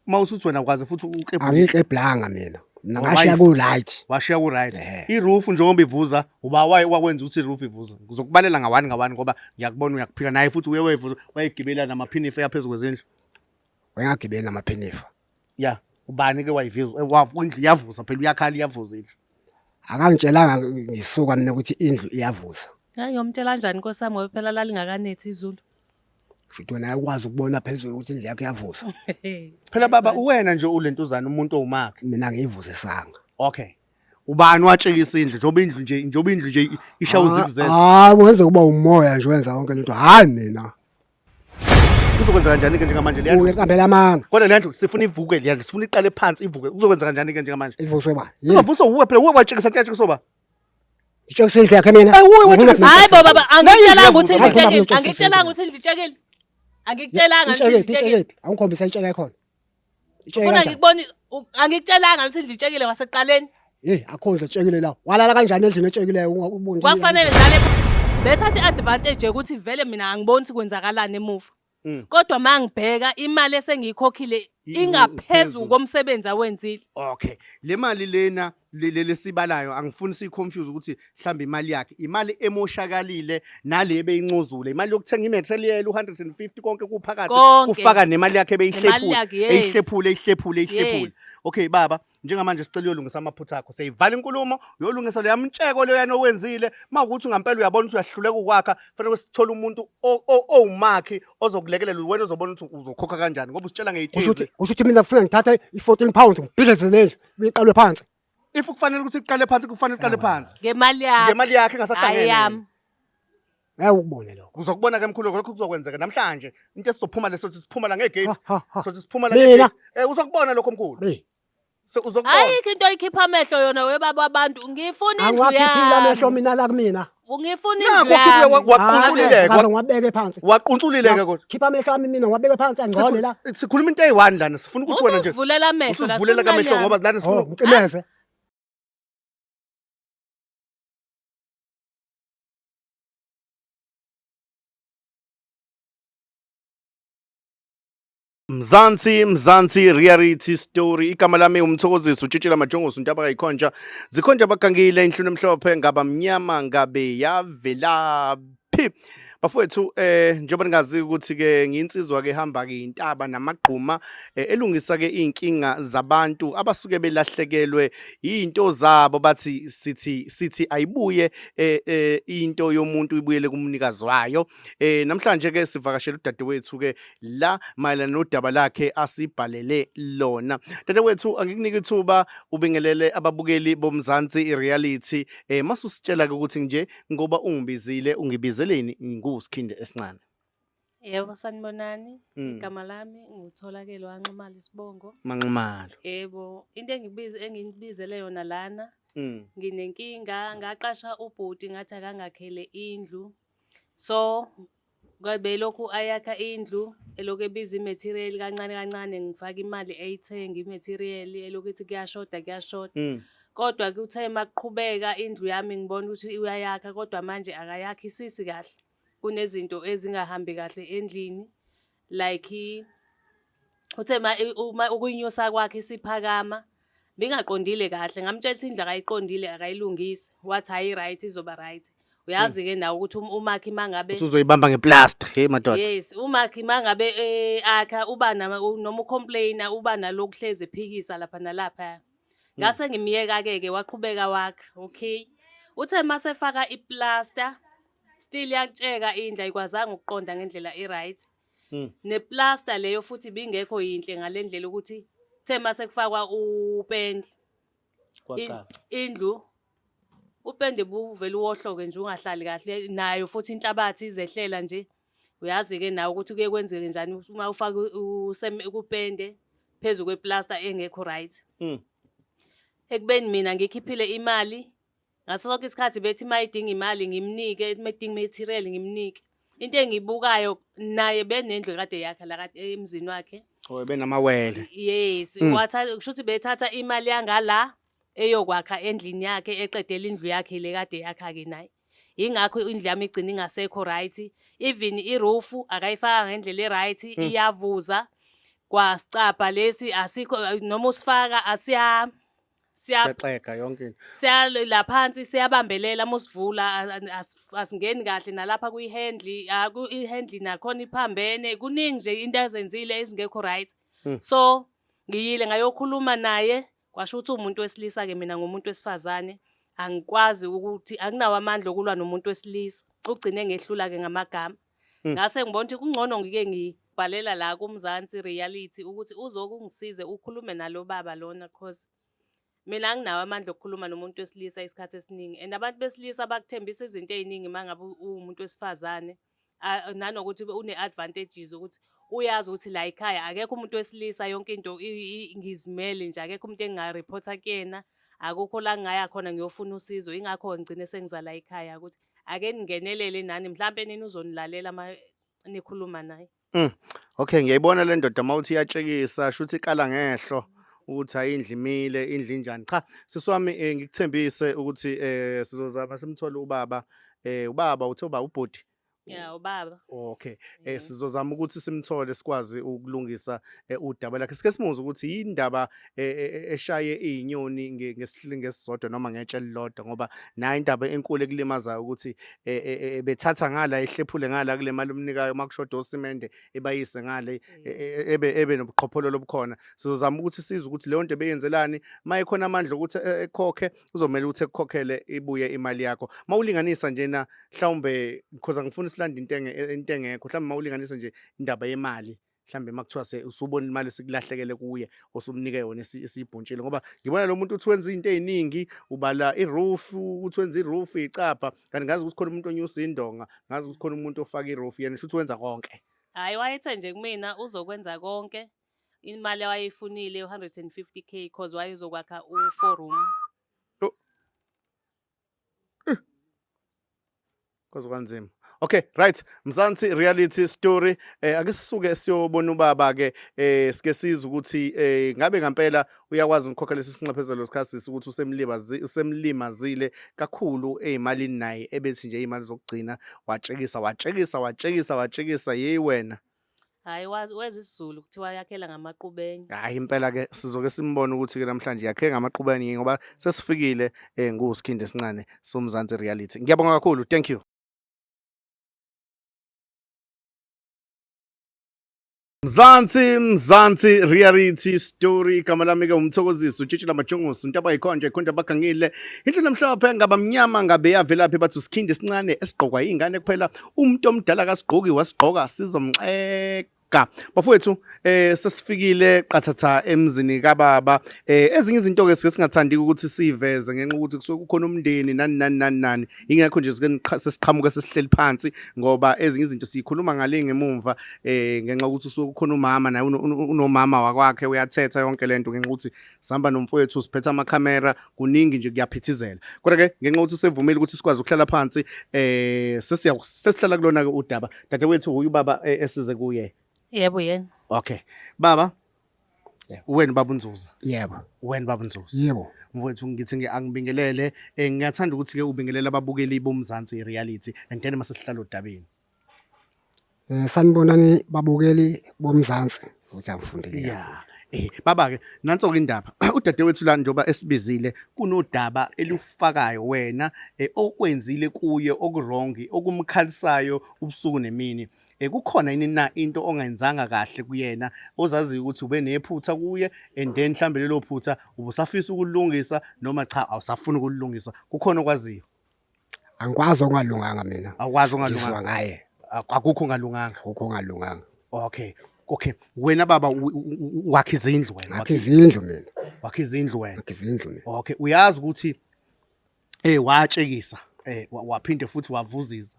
uma usuthi wena kwaze futhi uklebhule angikleblanga mina mina ngashiya ku right washiya ku right Eh. i-roof njengoba ivuza uba waye wakwenza ukuthi i-roof ivuza ngizokubalela ngawani ngawani ngoba ngiyakubona uyakuphika naye futhi uye wayivuza wayigibela namaphinifa yaphezu kwezindlu wengagibeli namaphinifa ya ubani ke wayivuza Eh, wavu- indlu iyavuza phela uyakhala iyavuza indlu akangitshelanga ngisuka mina ukuthi indlu iyavuza Hayi yomtshela kanjani Nkosi yami ngoba phela lalingakanethi izulu. Shuthi wena ayakwazi ukubona phezulu ukuthi indlu yakho iyavusa. Phela baba uwena nje ulentuzana umuntu owumakhe. Mina ngiyivusisanga. Okay. Ubani watshekisa indlu njengoba indlu nje njengoba indlu nje isha uzikuzela. Hayi wenza kuba umoya nje wenza yonke lento. Hayi mina. Kuzokwenza kanjani ke njengamanje leyandlu? Uyiqambela amanga. Kodwa leyandlu sifuna ivuke leyandlu sifuna iqale phansi ivuke. Kuzokwenza kanjani ke njengamanje? Ivuswe ba. Yini? Uzovuswa uwe phela uwe watshekisa kuyatshekiswa ba. Ngitshela usendlu yakhe mina. Hayi bo baba angitshelanga ukuthi ngitshelile. Angitshelanga ukuthi ngitshelile. Angitshelanga ukuthi ngitshelile. Awungikhombisa intsheke yakhona. Ufuna ngikubone angitshelanga ukuthi ngitshelile waseqaleni. Hey akho nje tshekile la. Walala kanjani endlini etshekileyo ungakuboni. Kwakufanele ngale bethathe advantage ukuthi vele mina angiboni ukuthi kwenzakalani emuva. Mm. kodwa uma ngibheka imali esengiyikhokhile I- ingaphezu ingaphezulu. komsebenzi awenzile okay le mali lena le- le- lesibalayo angifuni siyiconfuse ukuthi mhlawumbe imali yakhe imali emoshakalile nale ebeyincozule imali yokuthenga imaterial u-150 konke kuphakathi Konke. ufaka nemali yakhe Nemali ebeyihlebule yakhe, yes. eyihlephule eyihlephule eyihlephule yes okay baba njengamanje sicela uyolungisa amaphutha akho seyivala inkulumo uyolungisa leya mtsheko leyo yana owenzile mawukuthi ngampela uyabona ukuthi uyahluleka ukwakha fanele sithole umuntu owumakhi ozokulekelela wena ozobona ukuthi uzokhokha kanjani ngoba usitshela ngeyithize kusho ukuthi mina ngifuna ngithatha i-14 pounds ngibhidleze lendlu iqalwe phansi if kufanele ukuthi iqale phansi kufanele iqale phansi ngemali yakhe ngemali yakhe engasahlangene Ngeke ukubone lokho. Uzokubona ke mkhulu lokho kuzokwenzeka namhlanje. Into esizophuma leso sithi siphuma la ngegate. Ha, ha, ha. Sothi siphuma la Mina? ngegate. Eh uzokubona lokho mkhulu. Mina. So uzokubona. ayikho into oyikhipha amehlo yona webaba wabantu ngifuna indlu Angiwakhiphile amehlo yami mina la kumina. ngifuna Nakho indlu khiphe yami waqunsulileke. Ngaze ngiwabeke phansi. Waqunsulileke kodwa. Khipha amehlo ami mina ngiwabeke phansi angcole la. Sikhul- Sikhuluma into eyi-one lana sifuna ukuthi wena nje usuzivulela amehlo la, usuzivulela sifuna kamehlo imali ngoba lana Oh, sifuna ngicimeze. Mzansi Mzansi Reality Story igama lami umthokozisi utshitshela majongosi untaba kayikhonja zikhonja abagangile inhlunu emhlophe ngaba mnyama ngabe yavelaphi bafowethu eh njengoba ningazi ukuthi ke nginsizwa ke hamba ke intaba namagquma eh, elungisa ke inkinga zabantu abasuke belahlekelwe izinto zabo bathi sithi sithi ayibuye eh, eh, into yomuntu ibuyele kumnikazi wayo eh, namhlanje ke sivakashela udadewethu ke la mayelana nodaba lakhe asibhalele lona dadewethu angikunike ithuba ubingelele ababukeli bomzansi ireality eh, masusitshela ke ukuthi nje ngoba ungibizile ungibizeleni ngusikhinde esincane Yebo, sanibonani. Mm. Igama lami ngutholakele wanxumala isibongo. Manxumalo. Yebo, into engibiza engibizele yona lana. Mm. Nginenkinga ngaqasha ubhuti ngathi akangakhele indlu. So kwabe lokhu ayakha indlu elokhu ebiza imaterial kancane kancane ngifaka imali eyithenga imaterial elokhu ithi kuyashoda kuyashoda. Mm. Kodwa kuthe makuqhubeka indlu yami ngibona ukuthi uyayakha kodwa manje akayakhi sisi kahle. kunezinto ezingahambi kahle endlini like uthe uma ukuyinyusa kwakhe isiphakama bingaqondile kahle ngamtshela ukuthi indlu akayiqondile akayilungisi wathi hayi right izoba right uyazi-ke hmm. nawe ukuthi um, umakhi mangabe uzoyibamba ngeplaster hey madoda yes umakhi mangabe eh, akha uba noma ucomplaina uba nalokuhlezi ephikisa lapha nalapha ngase ngimyeka-ke ke waqhubeka wakha okay uthe mase efaka iplaster still yakutsheka indla ikwazanga ukuqonda ngendlela i-right hmm. neplaster leyo futhi bingekho yinhle ngale ndlela ukuthi kuthe mase kufakwa upende indlu upende buvele uwohloke nje ungahlali kahle nayo futhi inhlabathi izehlela nje Uyazi-ke nawe ukuthi kuye kwenzeke njani uma ufake kupende phezu kweplasta engekho right mm. ekubeni mina ngikhiphile imali ngaso sonke isikhathi bethi uma idinga imali ngimnike uma idinga material ngimnike into engibukayo naye benendlu kade yakhe la kade emzini wakhe oh benamawele yes mm. watha kusho ukuthi bethatha imali yangala eyokwakha endlini yakhe eqedela indlu yakhe le kade yakha ke naye yingakho indlu yami igcina ingasekho right even iroof akayifaka ngendlela eright hmm. iyavuza kwasicabha lesi asikho noma usifaka asiya siyaxega yonke into siyala phansi siyabambelela musivula asingeni kahle nalapha kuyihandle ihandle nakhona iphambene kuningi nje into azenzile ezingekho right hmm. so ngiyile ngayokhuluma naye Kwasho ukuthi umuntu wesilisa ke mina ngomuntu wesifazane angikwazi ukuthi anginawo amandla okulwa nomuntu wesilisa ugcine ngehlula ke ngamagama hmm. ngase ngibona ukuthi kungcono ngike ngibhalela la kumzansi reality ukuthi uzokungisize ukhulume nalo baba lona cause mina anginawo amandla okukhuluma nomuntu wesilisa isikhathi esiningi and abantu besilisa bakuthembisa izinto eziningi mangabe uwumuntu wesifazane Ah, nanokuthi une-advantages ukuthi uyazi ukuthi la ekhaya akekho umuntu wesilisa yonke into i- i- ngizimele nje akekho umuntu engingarephotha kuyena akukho la ngingaya khona ngiyofuna usizo ingakho ngigcine sengizala ekhaya ukuthi ake ningenelele nani mhlampe nina uzonilalela uma nikhuluma naye Mm. Okay, ngiyayibona le ndoda uma uthi iyatshekisa, shuthi ikala ngehlo ukuthi hayi indlu imile, indlu injani. Cha, sisi wami eh, ngikuthembise ukuthi eh sizozama simthole ubaba. Eh ubaba uthe uba ubhuti. Ya ubaba. Okay. Eh Mhm. sizozama ukuthi simthole sikwazi ukulungisa eh, udaba lakhe. Sike simuze ukuthi yindaba e, e, e, eshaye izinyoni ngesihlingi esisodwa noma ngetshe elilodwa ngoba nayo indaba enkulu ekulimazayo ukuthi bethatha ngala ehlephule ngala kule mali umnikayo uma kushoda osimende ebayise ngale ebe ebe nobuqhophololo obukhona sizozama ukuthi size ukuthi leyo nto beyenzelani uma ekhona amandla ukuthi ekhokhe uzomele ukuthi ekukhokhele ibuye imali yakho uma ulinganisa nje na mhlawumbe because angifuni silande into into engekho mhlawumbe uma ulinganisa nje indaba yemali mhlambe makuthiwa se usubona imali sikulahlekele kuye osumnike yona esiyibhuntshile ngoba ngibona lo muntu uthi wenza izinto eziningi ubala iroof uthi wenza iroof icapha kanti ngazi ukuthi khona umuntu onyusa indonga ngazi ukuthi khona umuntu ofaka iroof yena shuthi wenza konke hayi wayethe nje kumina uzokwenza konke imali wayeyifunile u150k because wayezokwakha u4 room kwaze kwanzima okay right mzansi reality story eh ake sisuke siyobona ubaba ke eh sike siza ukuthi eh ngabe ngempela uyakwazi ukukhokha lesi sinxephezelo sikhasisi ukuthi usemlibazi usemlimazile kakhulu ezimalini naye ebethi nje izimali zokugcina watshekisa watshekisa watshekisa watshekisa hey wena Hayi wazi wezwa isiZulu kuthiwa yakhela ngamaqubeni. Hayi impela ke sizoke simbone ukuthi ke namhlanje yakhe ngamaqubeni yini ngoba sesifikile eh nguSkhindi esincane soMzansi reality. Ngiyabonga kakhulu. Thank you. Mzansi Mzansi reality story igama lami ke umthokozisi utshitshila majongosi untaba yikhonje ikhonje abagangile into namhlophe ngaba mnyama ngabe yavelaphi bathi usikhindi esincane esigqokwa ingane kuphela umuntu omdala kasigqoki wasigqoka sizomxeka ga bafowethu eh sesifikile qathatha emzini kababa eh ezinye izinto ke sike singathandi ukuthi siveze ngenxa ukuthi kusuke kukhona umndeni nani nani nani nani ingekho nje sike sesiqhamuka sesihleli phansi ngoba ezinye izinto siyikhuluma ngale ngemumva eh ngenxa ukuthi kusuke kukhona umama naye unomama wakwakhe uyathetha yonke lento ngenxa ukuthi sihamba nomfowethu siphethe amakhamera kuningi nje kuyaphithizela kodwa ke ngenxa ukuthi usevumile ukuthi sikwazi ukuhlala phansi eh sesiya sesihlala kulona ke udaba dadewethu uyu baba eh, esize kuye yebo yena okay baba wena baba unzuza yebo wena baba unzuza yebo mfowethu ngithi ngi- angibingelele eh ngiyathanda ukuthi ke ubingelele ababukeli bomzansi reality and then masesihlala odabeni Eh sanibonani babukeli boMzansi ukuthi angifundile. Yeah. Eh baba ke nanso ke indaba udadewethu la njoba esibizile kunodaba elufakayo wena eh, okwenzile kuye okurongi okumkhalisayo ubusuku nemini. Eh kukhona yini na into ongayenzanga kahle kuyena ozaziyo ukuthi ube nephutha kuye and then mhlambe lelo phutha ubusafisa ukulungisa noma cha awusafuni ukulungisa kukhona okwaziyo. Angikwazi okungalunganga mina. Awukwazi Ngizwa ongalunganga. ngaye Ak- Akukho ongalunganga. akukho ongalunganga. Okay. Okay. Wena baba u- u- u- wakha izindlu wena. Ngakho Wakha- izindlu mina, Wakha izindlu wena. ngakho izindlu mina. Okay, uyazi ukuthi eh watshekisa, eh wa- waphinde futhi wavuziza.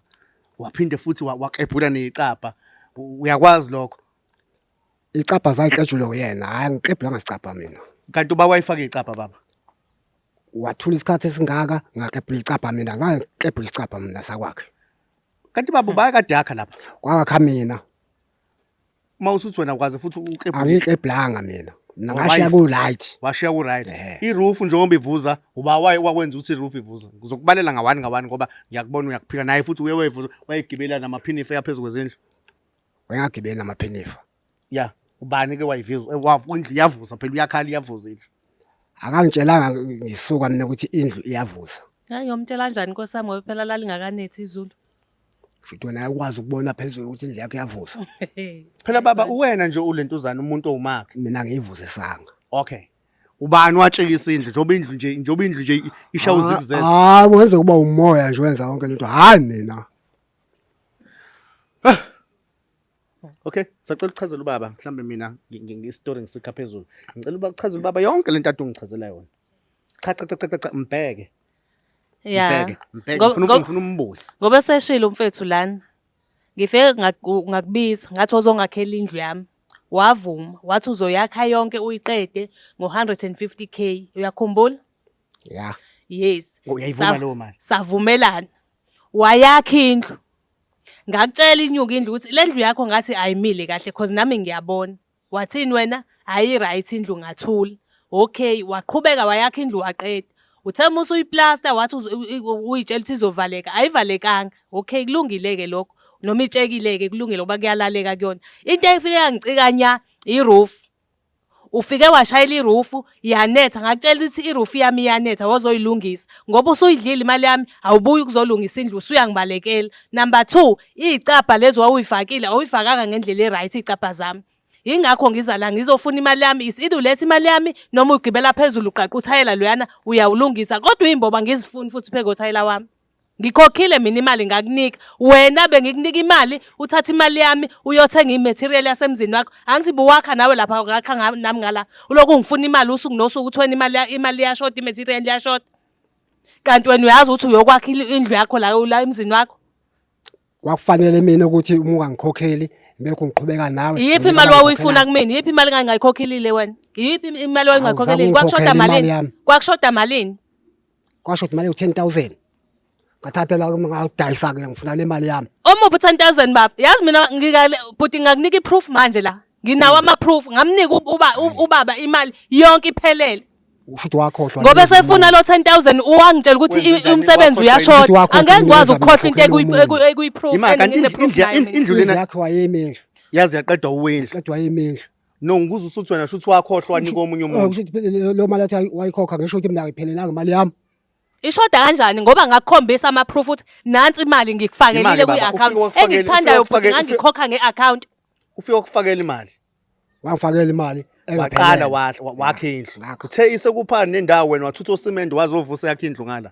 Waphinde futhi wa- wakebhula necapha. U- Uyakwazi lokho. Icapha zayihletshulwe uyena, hayi ngiqebhula ngasicapha mina. Kanti uba wayifaka icapha baba. wathula isikhathi esingaka ngakebhula icabha mina ngakebhula icabha mina sakwakhe kanti baba ubaya kade yakha lapha kwakha mina uma usuthi wena ukwazi futhi ukebhula angikebhlanga mina mina ngashiya ku right washiya ku right Eh. i roof njengoba ivuza uba waye wakwenza ukuthi i roof ivuza ngizokubalela ngawani ngawani ngoba ngiyakubona uyakuphika naye futhi uye wayevuza wayegibela namaphinifa yaphezulu kwezindlu wengagibeli namaphinifa ya ubani ke wayivizwa Eh, wavu- indlu iyavuza phela uyakhala iyavuza indlu akangitshelanga ngisuka mina ukuthi indlu iyavuza Hayi yomtshela kanjani Nkosi yami ngoba phela lalingakanethi izulu. futhi wena ayikwazi ukubona phezulu ukuthi indlu yakho iyavuza phela baba uwena nje ulentuzana umuntu owumakhe mina ngiyivuzisanga okay ubani watshekisa indlu njengoba indlu nje njengoba indlu nje isha uzikuzela hayi wenza kuba umoya nje wenza yonke lento hayi mina Okay, sacela ukuchazela ubaba mhlambe mina ngistory ngisikha phezulu. Ngicela uba kuchazela ubaba yonke lento ade ungichazela yona. Cha cha cha cha cha mbheke. Yeah. Mbheke, mbheke Ngo- ngifuna ngo- ngifuna umbuye. Ngoba seshilo umfethu lana. Ngifike ngaku- ngakubiza ngathi ozongakhela indlu yami. Wavuma, wathi uzoyakha yonke uyiqede ngo-150k. Uyakhumbula? Yeah. Yes. Oh, uyayivuma Sa- leyo mali? Savumelana. Wayakha indlu. Ngakutshela inyuka indlu ukuthi le ndlu yakho ngathi ayimile kahle cause nami ngiyabona. Wathini wena? Hayi right indlu ngathula. Okay, waqhubeka wayakha indlu waqeda. Uthe uma usuyiplasta wathi uyitshela ukuthi izovaleka, ayivalekanga. Okay, kulungile-ke lokho. Noma itshekile-ke kulungile ngoba kuyalaleka kuyona. Into efike yangicika nya, i-roof. Ufike washayela irufu yanetha ngakutshela ukuthi irufu yami iyanetha wozoyilungisa ngoba usuyidlile imali yami awubuyi ukuzolungisa indlu usuyangibalekela. Number two, iy'cabha lezi wawuyifakile awuyifakanga ngendlela e-right iy'cabha zami. Yingakho ngiza la ngizofuna imali yami is either uletha imali yami noma ugibela phezulu uqaqe uthayela loyana uyawulungisa kodwa iy'mboba angizifuni futhi pheke uthayela wami. Ngikhokhile mina imali ngakunika. Wena bengikunika imali, uthatha imali yami uyothenga i-material yasemzini wakho. Angithi buwakha nawe lapha ngakha nga- nami ngala. Ulokhu ungifuna imali usuku nosuku uthi wena imali ya- imali iyashoda, i-material iyashoda. Kanti wena uyazi ukuthi uyokwakha il- indlu yakho la la emzini wakho. kwakufanele mina ukuthi uma ungangikhokheli ngibekho ngiqhubeka nawe iyiphi imali wawuyifuna kumina iyiphi imali engangayikhokhilile wena iyiphi imali wawungayikhokhilile kwakushoda malini kwakushoda malini kwashoda imali u-ten thousand ngathatha la ngawudayisa ke ngifuna le mali yami omuphi u-ten thousand baba yazi mina bhuti ngakunika i-proof manje la nginawo ama-proof ngamnika ubaba imali yonke iphelele usho ukuthi wakhohlwa ngoba esefuna lo 10000 uwangitshela ukuthi Wenze i- njani? umsebenzi Wakhohlwa yini? uyashoda Ukuthi wakhohlwa angeke yini ngikwazi wenzani? ukukhohlwa into Wakhohlwa yini omunye? ekuyiproof Imali kanti indlu- indlu- indlu- indlu lena yakhe wayemehlo yazi yaqedwa uwendlu qedwa wayemehlo no ngibuza usuthi wena shuthi wakhohlwa ni komunye umuntu ukuthi phela lo mali athi ayi- wayikhokha ngisho ukuthi mina ngiphelelanga imali yami ishoda kanjani ngoba ngakukhombisa ama-proof ukuthi nansi imali ngikufakelile Imali, baba, kwi-account ufike wakufakele- engikuthandayo ufike futhi wakufakele- ngangikhokha nge-account ufike ukufakela imali wangifakela imali waqala wakhe indlu uthe isekuphani nendawo wena wathutha osimende wazovusa yakhe indlu ngala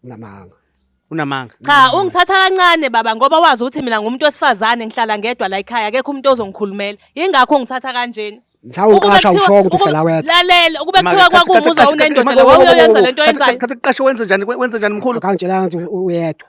unamanga unamanga cha ungithatha kancane baba ngoba wazi ukuthi mina ngumuntu wesifazane ngihlala ngedwa la ekhaya akekho umuntu ozongikhulumela ingakho ungithatha kanjeni mhlawumbe uqasha ushoko ukuthi uhlala wedwa lalela ukube kuthiwa kwakumuza unendoda la wawuyoyenza lento yenzayo khathi kuqashe wenze njani wenze njani mkhulu akangitshelanga ukuthi uyedwa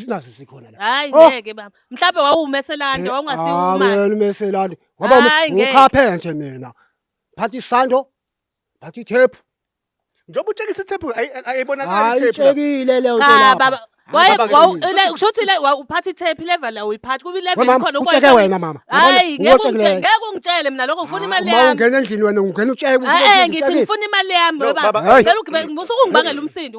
sinazo sikhona la hayi Oh. ngeke baba mhlawumbe wawumeselanda wawungasiwuma Eh, umeselani ngoba Hayi, ngeke. ukhaphenje mina phatha isando phatha ithephu njengoba utshekisa ithephu ayi- ayi- ayibonakali hayi ithephu la. itshekile leyo nto cha lapha. baba Hamba waye bake wawu- siyizwe. le- kusho ukuthi le wa- uphatha ithephi level la uyiphathi kuba We ilevel mama, khona utsheke wena mama. hayi Yabona, ngeke utshekile. ungitshele ngeke ungitshele mina lokho ngifuna imali Uma yami ungena endlini wena ungena utsheke eh ngithi ngifuna imali yami Lo, baba baba. ngicela ugibele musuke ungibangela umsindo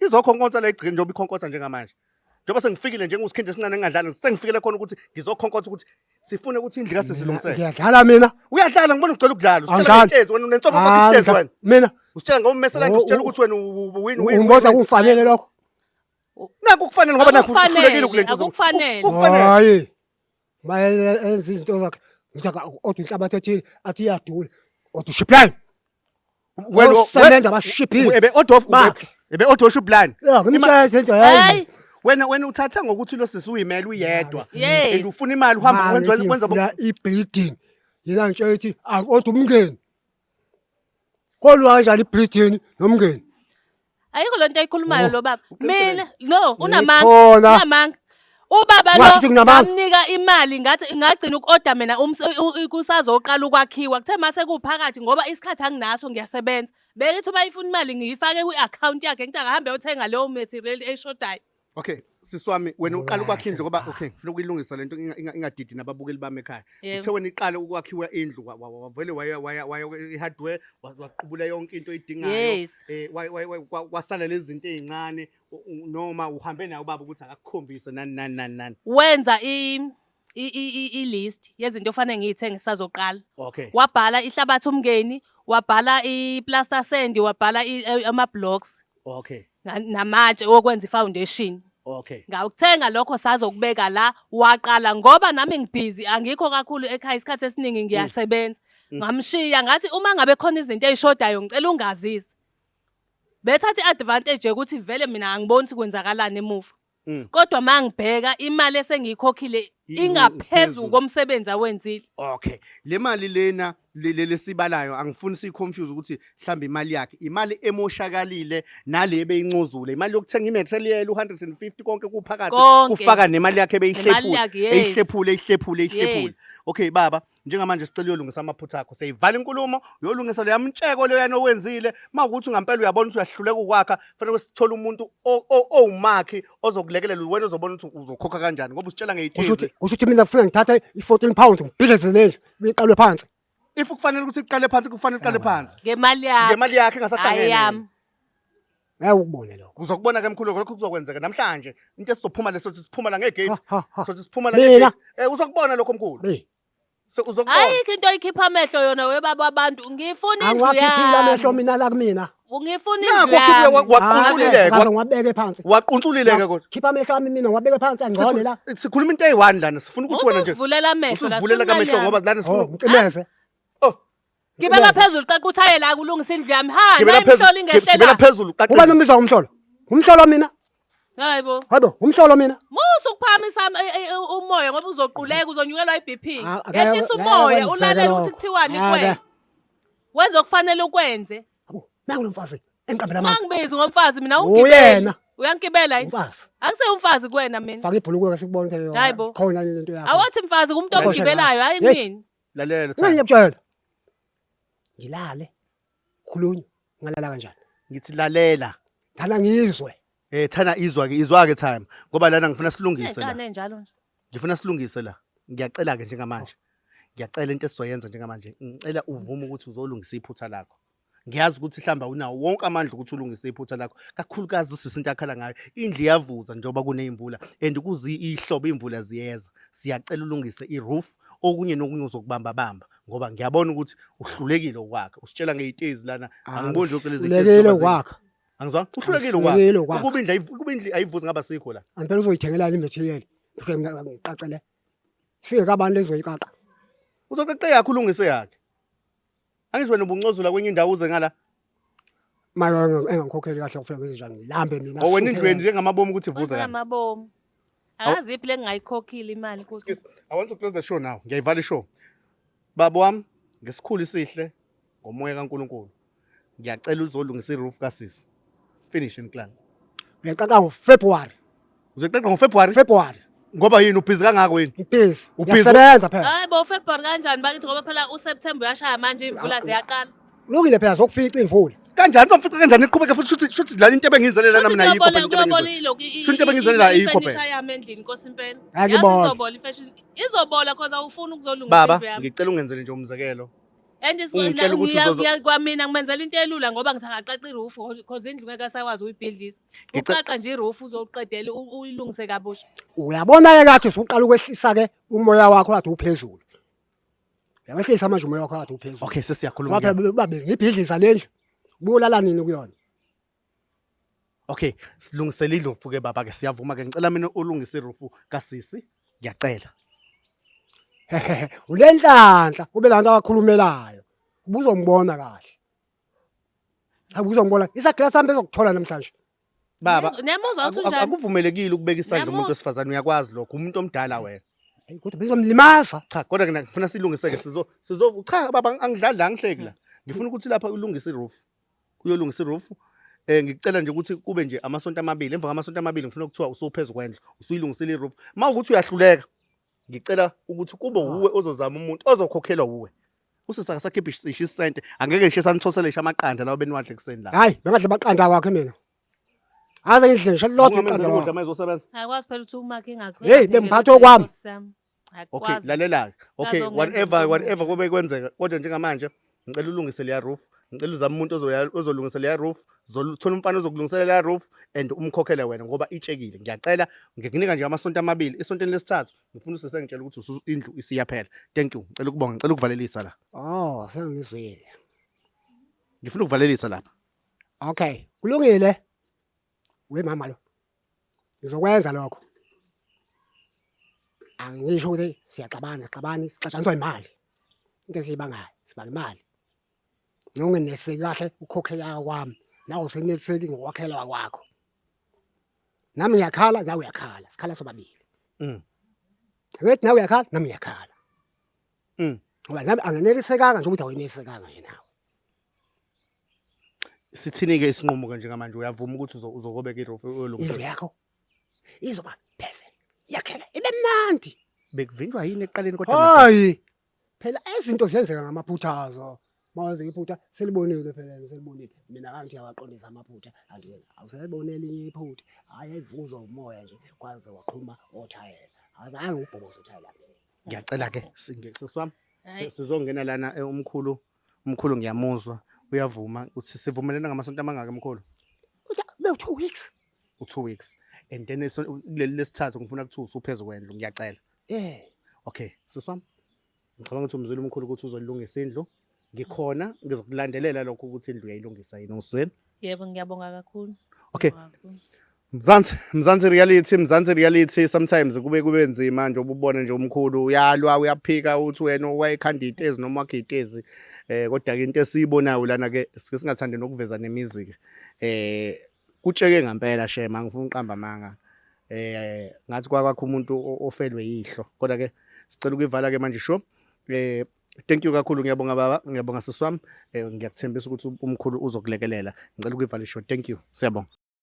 Izokhonkonsa le gcini njengoba ikhonkotha njengamanje. Njengoba sengifikile njengosikhinje esincane engadlali sengifikele khona ukuthi ngizokhonkotha ukuthi sifune ukuthi indlu kase silungisele. Ngiyadlala mina. Uyadlala ngibona ugcela ukudlala. Usitshela intezi wena unenhloko ngoba isitezi wena. Mina. Usitshela ngoba umesela nje usitshela ukuthi wena win win. Ngibona kungifanele lokho. Naku kufanele ngoba naku kufanele kule nto. Akufanele. Hayi. mayenza izinto zakhe ngithi odwa inhlabathi ethile athi iyadula odwa ushiphani osebenza abashiphile ebe odof bakhe ebe odof ushiplan hey wena wena uthatha ngokuthi lo sisi uyimela uyedwa and ufuna imali uhamba wenza wenza i bleeding yena ngitshela ukuthi akodwa umngeni Kolwa kanjani ibridini nomngeni? Ayikho lento ayikhulumayo lo baba. Mina no unamanga. Ngikhona. Unamanga. Ubaba Washo ukuthi lo nginamanga. ngamnika imali ngathi ngagcina uku-order mina ums- u- u- kusazoqala ukwakhiwa kuthe mase kuphakathi ngoba isikhathi anginaso ngiyasebenza bekithi uma ifuna imali ngiyifake kwi-akhawunti yakhe ngithi akahambe yothenga leyo material eshodayo Okay, sisi wami wena uqala ukwakha indlu ngoba okay, ngifuna ukuyilungisa lento inga- inga- ingadidi nababukeli bami ekhaya. Yebo. Uthe wena iqala ukwakhiwa indlu wa- wa- wa- wavele waya waya waya i-hardware wa- waqubula yonke into oyidingayo. Yes. Eh wa- wa- wa- kwa- kwasala lezi zinto ezincane u- u- noma uhambe naye ubaba ukuthi akakukhombise nani nani nani nani. Wenza i i- i- i- i-list yezinto ofanele ngiyithenge ngisazoqala okay wabhala ihlabathi umngeni wabhala i-plaster sand wabhala i- eh, ama-blocks okay na- namatshe okwenza i-foundation okay ngawukuthenga lokho sazokubeka la waqala ngoba nami ngibhizi angikho kakhulu ekhaya isikhathi esiningi ngiyasebenza ngamshiya ngathi uma ngabe khona izinto ey'shodayo ngicela ungazise bethatha i-advantage yokuthi vele mina angiboni ukuthi kwenzakalani emuva Mm. kodwa mangibheka imali esengiyikhokhile I- ingaphezulu ingaphezulu. komsebenzi awenzile okay le mali lena le- le- lesibalayo angifuni siyiconfuse ukuthi mhlawumbe imali yakhe imali emoshakalile nale ebeyincozule imali yokuthenga imaterial u-150 konke kuphakathi Konke. kufaka nemali yakhe Nemali yakhe, eyihlephule yes. eyihlephule eyihlephule eyihlephule Yes. okay baba njengamanje sicela uyolungisa amaphutha akho seyivala inkulumo uyolungisa leya mtsheko leyo yana owenzile mawukuthi ngampela uyabona ukuthi uyahluleka ukwakha fanele sithole umuntu owumakhi ozokulekelela wena ozobona ukuthi uzokhokha kanjani ngoba usitshela ngeyithize kusho ukuthi mina ngifuna ngithatha i-14 pounds ngibhidleze lendlu iqalwe phansi if kufanele ukuthi iqale phansi kufanele iqale phansi ngemali yakhe ngemali yakhe engasahlangene Ngeke ukubone lokho. Uzokubona ke mkhulu lokho kuzokwenzeka namhlanje. Into esizophuma leso sithi siphuma la ngegate. Ha, ha, ha. Sothi siphuma la Mina? ngegate. Eh uzokubona lokho mkhulu. Be, So, Uzokubona. ayikho into oyikhipha amehlo yona webaba wabantu ngifuna indlu angiwakhiphile amehlo yami mina la kumina. ngifuna Nakho indlu khiphe yami waqunculile Ngaze kodwa. ngiwabeke phansi. Waqunculile-ke kodwa. Khipha amehlo ami mina ngiwabeke phansi angcole la. Sikhu- Sikhuluma into eyi-one lana sifuna ukuthi wena nje usuvulela amehlo la, usuzivulela kamehlo sifuna ngoba lana Oh, sifuna ngicimeze. Oh, Gibela phezulu qaquthaye la kulungisa indlu yami. Ha, Gibela nayi phezulu. mhlola Gib- ingehlela. Gibela phezulu Uba qaqe. nombiza umhlolo. Umhlolo mina. Hayibo. Hayibo, umhlolo mina. Musa ukuphakamisa am- e- e- e- umoya ngoba uzoquleka uzonyukelwa iBP. Ah, akaya- Yehlisa akaya umoya kwenzeka ulalele lokho. ukuthi kuthiwani Ah, kuwe. akaya. Wenza okufanele ukwenze. Hayibo, nangu lomfazi engiqambela amanzi. Mangibizi ngomfazi mina Uyena. ungigibela. Uyangigibela yini? Umfazi. Angise umfazi kuwena mina. Faka ibhulukwe sikubone ukuthi Hayibo. khona lento yakho. Awothi mfazi kumuntu Hayibo, omgibelayo hayi Hey. mina. lalela Ngani Thando ngiyakutshela. Ngilale. Khulunya. Ngalala kanjani? ngithi lalela Ngana ngizwe. eh Thana izwa ke izwa ke time ngoba lana ngifuna silungise la Nekane njalo nje. ngifuna silungise la ngiyacela ke njengamanje ngiyacela into esizoyenza njengamanje ngicela uvume ukuthi uzolungisa iphutha lakho ngiyazi ukuthi hlamba unawo wonke amandla ukuthi ulungise iphutha lakho kakhulukazi usisi into akhala ngayo indlu iyavuza njengoba kuneyimvula and kuzi ihlobo imvula ziyeza siyacela ulungise iroof okunye nokunye uzokubamba bamba ngoba ngiyabona ukuthi uhlulekile ukwakha usitshela ngeyitezi lana ah, angiboni nje uqeleza uhlulekile ukwakha angizwa uhlulekile ukwakha ukuba indlu ukuba indlu ayivuzi ngaba sikho la angibona uzoyithengela le material ngiqaqele singekabantu lezoyiqaqa uzoqaqe yakhe ulungise yakhe Angithi wena ubuncozula kwenye indawo uze ngala. Mara engangikhokheli kahle kufika ngezinjani ngilambe mina. Oh wena indlweni njengamabomu ukuthi vuza Kwenza kahle. amabomu. Akazi iphi lengingayikhokhile imali kuthi. Excuse, I want to close the show now. Ngiyayivala ishow. Baba wami ngesikhulu isihle ngomoya kaNkuluNkulu. Ngiyacela uzolungisa iroof kasisi. finish in clan uyaqaqa ngofebruary uzoqaqa ngofebruary february ngoba yini ubhizi kangako yini ubhizi uyasebenza phela hayi bo february kanjani bakithi ngoba phela useptember uyashaya manje imvula ziyaqala lungile phela zokufica imvula kanjani somfica kanjani iqhubeke futhi shuthi shuthi lana into ebengizelele lana mina ayikho phela kuyobona ilokhu shuthi into ebengizelele ayikho phela yami endlini nkosi impela yazi izobola ifashion izobola cause awufuni ukuzolungisa baba ngicela ungenzele nje umzekelo And it's Ungitshela ukuthi ngiya- uzozo- ngiya- kwamina ngimenzela into elula ngoba ngithi angaqaqa irufu because indlu ngeke asakwazi uyibhidlisa Ngica- uqaqa nje irufu uzoqedela u- uyilungise kabusha uyabona-ke kathi usuqala ukwehlisa-ke umoya wakho kathi uphezulu uyawehlisa manje umoya wakho kathi uphezulu okay sesiyakhuluma ngoba phela babengibhidliza le ndlu buyolala nini kuyona Okay, silungisele indlu mfuke baba ke siyavuma ke ngicela mina ulungise irufu kasisi ngiyacela. Hehehe, ulenhlanhla kube lanto akakhulumelayo. Ubuzongibona kahle. Hayi uzombona. Isagila sami bezokuthola namhlanje. Baba, Niyazwa- niyamuzwa ukuthi aku- unjani? akuvumelekile ukubeka isandla umuntu Niyamuzwa. wesifazane uyakwazi lokho umuntu omdala wena. Hayi kodwa bezomlimaza. Cha kodwa ke ngifuna silungiseke sizo sizo cha baba angidlali la ngihleki la. Ngifuna ukuthi lapha ulungise iroof. uyolungisa irufu eh ngicela nje ukuthi kube nje amasonto amabili emva kwamasonto amabili ngifuna ukuthiwa usuphezulu kwendlu usuyilungisile iroof uma ukuthi uyahluleka ngicela ukuthi kube wuwe ozozama umuntu ozokhokhelwa wuwe usisa akasakhiphi isisho isente angeke ngisho sanithoselesha amaqanda lawo beniwadle kuseni la hayi bengadle amaqanda wakhe mina aze ngidle ngisho lodwa iqanda lakho Ayikwazi phela ukuthi umakhe ngakho. Hey, bengiphatha okwami. okay akwazi lalela-ke okay Nazo ngenza whatever noma whatever mina. kube kwenzeka kodwa njengamanje ngicela ulungise leya roof ngicela uzame umuntu ozoya- ozolungisa leya roof zol- thola umfana ozokulungisela leya roof and umkhokhele wena ngoba itshekile ngiyacela ngikunika nje amasonto amabili esontweni lesithathu ngifuna usesengitshela ukuthi usu- indlu isiyaphela thank you ngicela ukubonga ngicela ukuvalelisa la oh sengizwile ngifuna ukuvalelisa lapha okay kulungile We mama lo. Ngizokwenza lokho. Angisho ukuthi siyaxabana, xabani, sixatshaniswa imali. Into esiyibangayo, sibanga imali. Nongeneseki kahle ukhokhe yaka kwami. Nawe useneliseki ngokwakhela kwakho. Nami ngiyakhala, nawe uyakhala. Sikhala sobabili. Mm. Wethi nawe uyakhala, nami ngiyakhala. Mm. Ngoba nami angenelisekanga nje ukuthi awenelisekanga nje nawe. Sithini-ke isinqumo-ke njengamanje uyavuma ukuthi uzokobeka irofu uyolungisa indlu yakho izoba perfect yakhela ibe mnandi bekuvinjwa yini ekuqaleni kodwa hayi phela izinto ziyenzeka ngamaphuthazo mawenze iphutha selibonile phela selibonile mina kanti uyawaqondisa amaphutha kanti wena awuselibone elinye iphutha hayi ayivuzwa umoya nje kwaze waqhuma othayela azange ubhoboza othayela ngiyacela ke singeke seswami sizongena lana eh, umkhulu Mkhulu ngiyamuzwa uyavuma uthi sivumelene ngamasonto amangaka mkhulu? Be 2 weeks. U2 weeks and then kuleli lesithathu ngifuna kuthi usuphezulu kwendlu ngiyacela. Eh. Okay, siswami. Ngicabanga ukuthi umzulu omkhulu ukuthi uzolungisa indlu. Ngikhona ngizokulandelela lokho ukuthi indlu uyayilungisa yini usweni. Yebo ngiyabonga kakhulu. Okay. Mzansi, Mzansi reality, Mzansi reality sometimes kube kube nzima nje ububone nje umkhulu uyalwa uyaphika uthi wena wayekhanda itezi noma wakhe itezi eh kodwa ke into esiyibonayo lana ke sike singathandi nokuveza nemizi ke eh kutsheke ngempela shema ngifuna uqamba manga eh ngathi kwakwakho umuntu ofelwe yihlo kodwa ke sicela ukuyivala ke manje sho eh Thank you kakhulu ngiyabonga baba ngiyabonga siswami eh, ngiyakuthembisa ukuthi umkhulu uzokulekelela ngicela ukuyivalisho thank you siyabonga